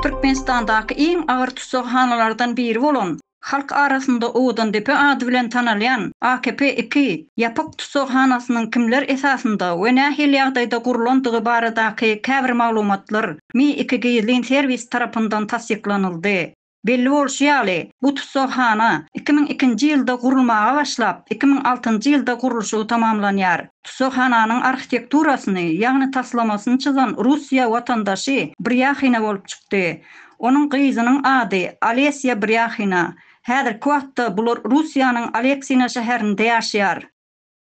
Türkmenistandaky iň agyr tussaghanalardan biri bolan, halk arasynda Owadandepe ady bilen tanalýan AKP iki ýapyk tussaghanasynyň kimler esasynda we nähili ýagdaýda gurlandygy baradaky käbir maglumatlar Mi iki gizlin serwis tarapyndan tassyklanyldy. Belli bolşy ýaly, bu tussaghana iki müň ikinji ýylda gurulmaga başlap, iki müň altynjy ýylda gurluşygy tamamlanýar. Tussaghananyň arhitekturasyny, ýagny taslamasyny çyzan russiýa watandaşy Brýahina bolup çykdy. Onuň gyzynyň ady Olesýa Brýahina. Häzirki wagtda bular Russiýanyň Aleksina şäherinde ýaşaýar.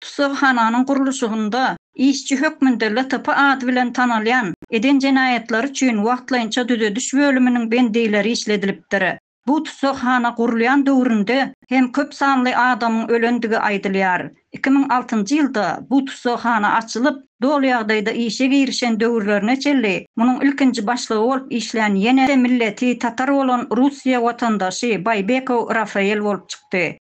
Tussaghananyň gurluşygynda işçi hökmünde LTP ady bilen tanalýan eden jenaýatlary üçin wagtlaýynça düzediş bölüminiň bendileri işledilipdir. Bu tussaghana gurulýan döwründe hem köp sanly adamyň ölendigi aýdylýar. Iki müň altynjy ýylda bu tussaghana açylyp, doly ýagdaýda işe girişen döwürlerine çenli munuň ilkinji başlygy bolup işlän ýene-de milleti tatar bolan Russiýa watandaşy Baýbekow Rafael bolup çykdy.